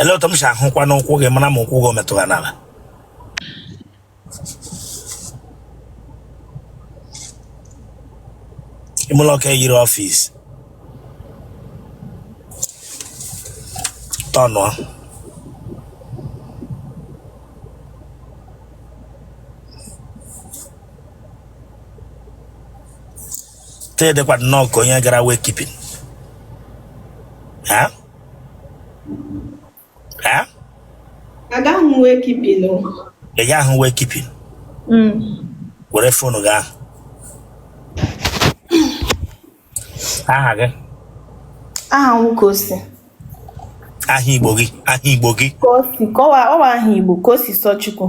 ele otu m si ahụkwa n'ụkwụ gị mara ma ụkwụ gị o metụrụ n'ala ime ụlọ ka eyiri office tọnụọ tee dịkwa nnọọ ka onye gara wake keeping ha ha agaghị m wake keeping o ị gaghị ahụ wake keeping Mm. were phone gị ahụ aha gị aha nwoke ose aha igbo gị aha igbo gị Kosi kọwa ọ wụ aha igbo Kosisọchukwu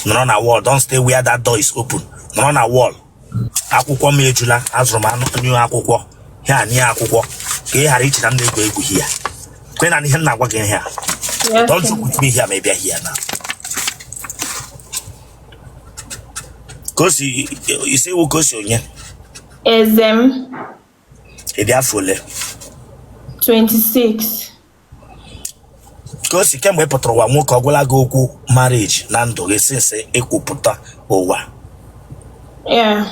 nọrọ na wall don't stay where that door is open nọrọ na wall akwụkwọ m ejula azụrụ m a new akwụkwọ ya na ihe akwụkwọ ka ị ghara iche na m na-egwu egwu hia kwe na ihe m na-agwa gị hia don't joke with me here ma ị bịa hia na Kosi ị sị ị wụ Kosi onye eze m ị dị afọ ole 26 Kosi kemgbe ị pụtara ụwa nwoke ọ gwala gị okwu marriage na ndụ gị since ịkwụpụta ụwa yeah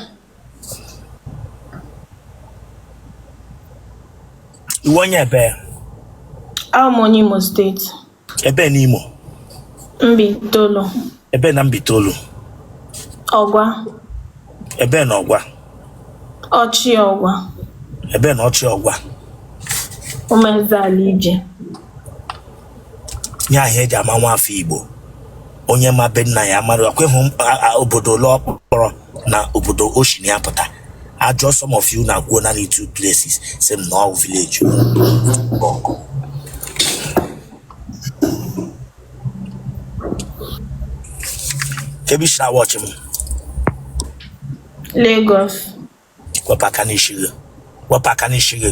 ị wụ onye ebe abụ m onye Imo State Ebe na Imo. Mbaitolu. Ebe na Mbaitolu. Ọgwa. Ebe na Ọgwa. Ọchị Ọgwa. Ebe na Ọchị Ọgwa. Ụmụezeala ije. Ihe ahụ eji ama nwa afọ Igbo. Onye ma be nna ya mara ọ kwa ị hụ obodo ole ọ kpọrọ na obodo o si na ya pụta a jụọ some of you na-akwuo naanị two places sị m na ọ wụ village Bọkụ. Kee ebe i si na-awachị m Lagos. wepụ aka n'isi gị wepụ aka n'isi gị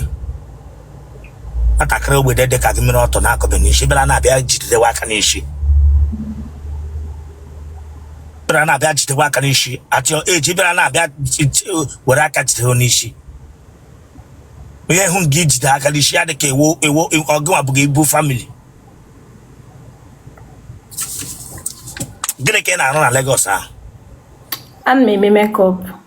nwatakịrị ogbede dị ka gị mere ọtọ na-akọbe n'isi bịara na-abịa jidewe aka n'isi bịara na-abịa jidewe aka n'isi atịọ eji bịara na-abịa were aka jidewe n'isi onye hụ gị i jide aka n'isi ya dị ka ewo ewo ọ gịnwa bu ibu family gịnị ka ị na-arụ na Lagos ahụ ana m eme makeup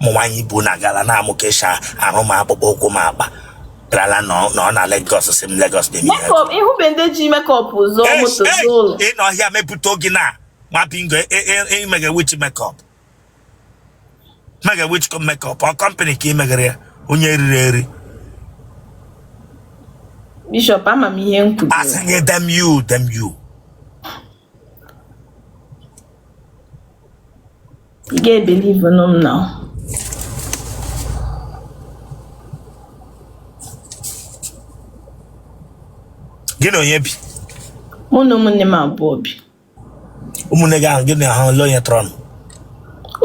ụmụ nwaanyị ibe unu agala na-amụ ka esi arụ ma akpụkpọ ụkwụ ma akpa garala na ọ- na ọ na Lagos si m Lagos na-eme ihe makeup ịhụbe ndị ji makeup zụọ Hey, moto hey, zụọ ụlọ ị nọ here mepụta oge na ma bingo ị mega which makeup mega which makeup ọ company ka imegara ya onye riri eri bishop ama m ihe m kwuru asị gị damn you damn you You get believe in them now. gị na onye bi mụ na ụmụnne m abụọ bi ụmụnne gị ahụ gị na ha ole onye tọrọ nụ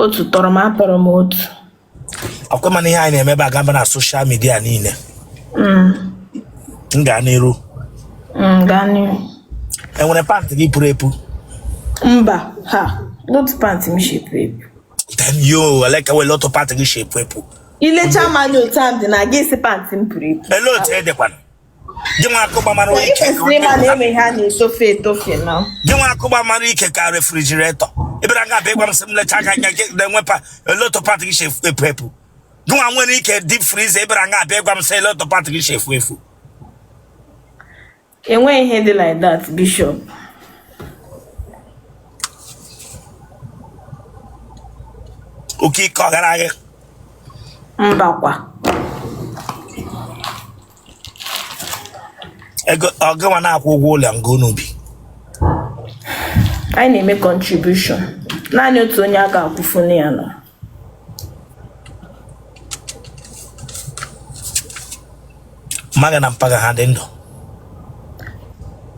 otu tọrọ m atọrọ m otu ọkwa ịma na ihe anyị na-emebe agaba na social media niile mm. m gaa n'iru mm, gaa n'iru enwere pant gị puru epu mba ha not pant m shi epu epu then yo eleka wele otu pant gị shi epu epu i lecha m anya otu a dị na gị sị pant m puru epu ele otu edekwana gị nwa akụgba mara ike ka Ịkwesịrị onye ịma na nta. eme ha na-etofe etofe na gị nwa akụgba mara ike ka refrigerator ị bịara nga a bịa ịgwa m sị m lecha aka anya gị na-enwe pa ele otu pant gị si epu epu epu gị nwa nwere ike deep freezer ị bịara nga a bịa ịgwa m sị ele otu pant gị si epu epu enweghị ihe dị like that bishop oke ike ọ gara gị mbakwa ego ọ gịnwa na-akwụ ụgwọ ụlọ nga unu bi anyị na-eme contribution naanị otu onye a ga-akwụfunu ya nọ mma gị na mpa gị ha dị ndụ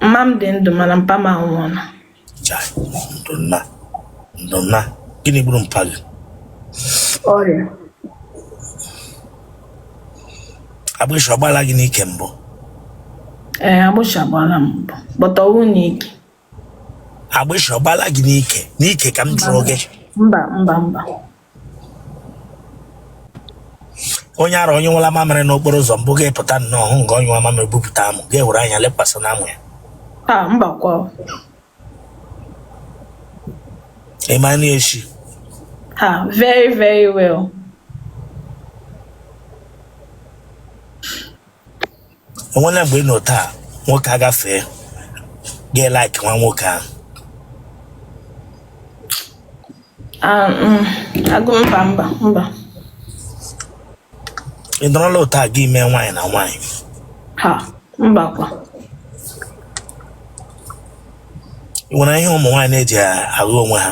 mma m dị ndụ mana mpa m anwụọla Chai, ndo nna ndo nna gịnị gburu mpa gị ọrịa agbịsị ọgbala gị n'ike mbụ ee agbịsị agbara m mbụ but ọwụ n'ike agbịsị ọgbala gị n'ike n'ike ka m jụrụ gị mba mba mba onye ara onye nwụla mamịrị n'okporo ụzọ mbụ gị apụta nnọọ hụ nga onye nwa mamịrị bupụta amụ gị ewere anya lekwasị na amụ ya a mba kwa ịmana echi ha very very well enwela mgbe ị nọ otu a nwoke agafee gị elike nwa nwoke ahụ Ah, mm, agụ mba mba mba ị nọrọla otu a gị mee nwaanyị na nwaanyị ha mba kwa ị nwere ihe ụmụ nwaanyị na-eji ara onwe ha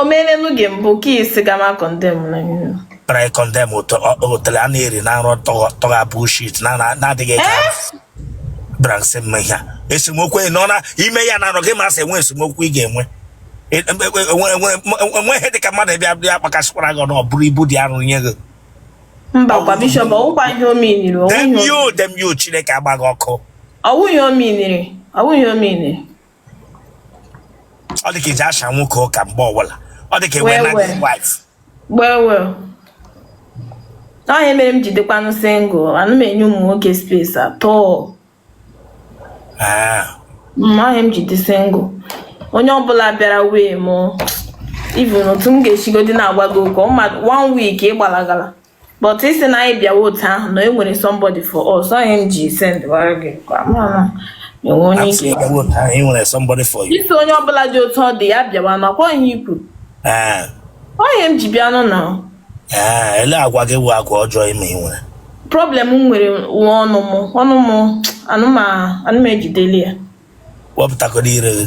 o meelenu gị mbụ ka isi gama kọndem na ihe try condemn otele a na-eri na nrọ tọgha bullshit na na-adịghị eji bịara nsị mma ihe a esemokwu enyi nọ na ime ya na anọ gị masị enwe esemokwu ị ga-enwe enweghị dịka mmadụ bịa bịa akpakasịkwara gị ọnụ ọ bụrụ ibu dị arụ nye gị mbakwa bishọp ọwụkwa ihe o miniri damn you damn you chineke agba gị ọkụ ọwụghị o miniri ọwụghị o miniri ọ dị ka ị ji asha nwoke ụka mgbe ọbụla ọ dị ka enwe na gị wife gbewe ọ ihe a mere m ji dịkwanụ single ana m enye ụmụ nwoke space atọ ọ ihe m ji dị single onye ọbụla bịara wee mụ even otu m ga-esigodi na-agwa gị ụka one week ị gbalagala but ị si na anyị bịawa otu ahụ na e nwere somebody for us onye m ji send wara gị kwa mana enwe onye ike e nwere somebody for you ị si onye ọbụla dị otu ọ dị ya bịawa na ọkwa ihe i kwu eh. onye m ji bịa nụ na eh, ele agwa gị bụ agwa ọjọọ ime ị nwere problem m nwere nwa ọnụ m ọnụ m ana m ejideli ya wepụtakọrọ ire gị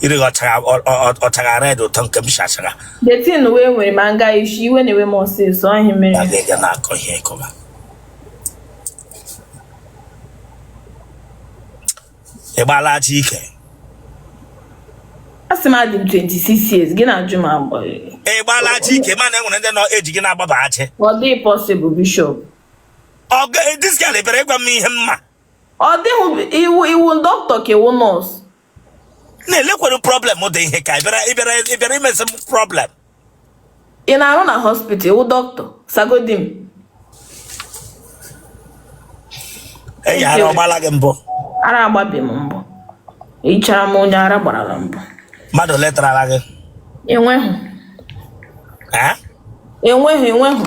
ire gị ọchara ọ- ọ- ọ- ọchara red ụtọ nke m si achara the thing wee nwere ma nga ị si iwe na-ewe m ọsịsọ ọ ihe mere ya ga-eje na-akọ ihe ịkọba ị gbaala aja ike a sị m adị m 26 years gị na-ajụ m agbọ ị gbaala aja ike mana e nwere ndị nọ eji gị na-agbaba achị ọ dịghị possible bishop ọ ga- this girl ebere ị gwa m ihe mma ọ dịghị ị wụ ị wụ dọkịta ka ị wụ nọọsụ na-elekwere problem dị ihe ka ị bịara imezi m problem ị na-arụ na hospital wụ dọkịta sagodi m enyi ara ọ gbala gị mbụ ara agbabi m mbụ ị chara m onye ara gbarala mbụ mmadụ letarala gị enweghị enweghị enweghị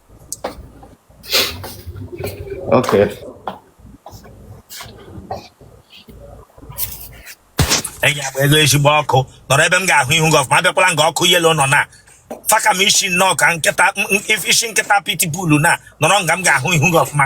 Okay. enyi ya bụ ego ezigbo ọkụ nọrọ ebe m ga-ahụ ihu gị ọfụma abịakwala nga ọkụ yellow nọ na faka m isi nnọọ ka nkịta m- m- isi nkịta pitbull na nọrọ nga m ga-ahụ ihu gị ọfụma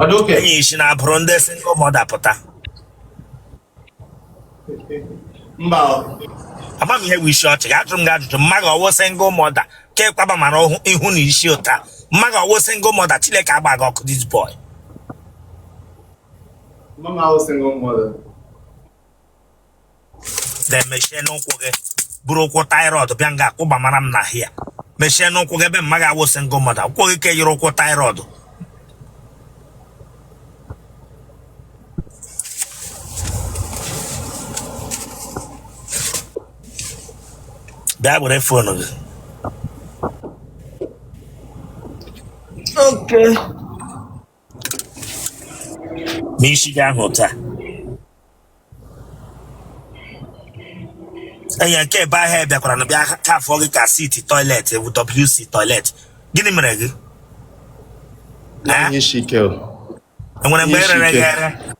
Ọ dị okay. enyi ị si na-abụrụ ndị single mother pụta Mba ọ. ama m ihe bụ isi ọchị ga-ajụ m gị ajụjụ mama gị ọ wụ single mother ka ịkwaba mara ọhụ- ihu na isi ụta mama gị ọ wụ single mother chineke agba gị ọkụ this boy Mama ahụ single mother. na-emechie ọnụ gị buru ụkwụ taịrọd bịa nga kwụba mara m n'ahịa mechie ọnụ gị ebe mma gị awụsị ngụ mmadụ akwụkwọ gị ka yiri ụkwụ taịrọd bịa were fon gị Okay. n'isi gị ahụ taa enye nke ebe ahịa bịakwara na bịa ka afọ gị ka seat toilet bụ wc toilet gịnị mere gị Ee? Ihe isi ike o. e nwere mgbe Ihe isi e rere gị ike. ere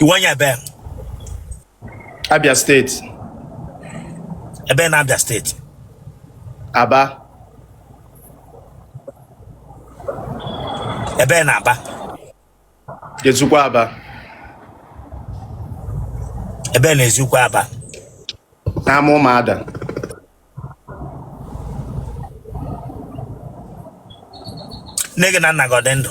Ị wụ onye ebe? Abia steeti. Ebe na Abia steeti? Aba. Ebe na Aba? Eziukwu Aba. Ebe na Eziukwu Aba? N'ama ụmụada. Nne gị na nna gị ọ dị ndụ?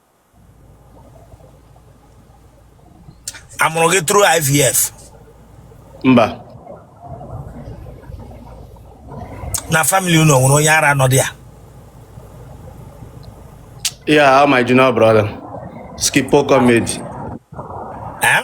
a mụrụ gị through IVF mba na family unu o nwere onye ara nọ dị ya yeah how my junior brother skipo comedy eh?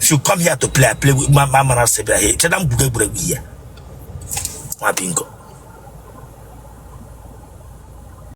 if you come here to play I play with ma ma mara sị bịara cheta m gwugo egwuregwu ihe nwa bingo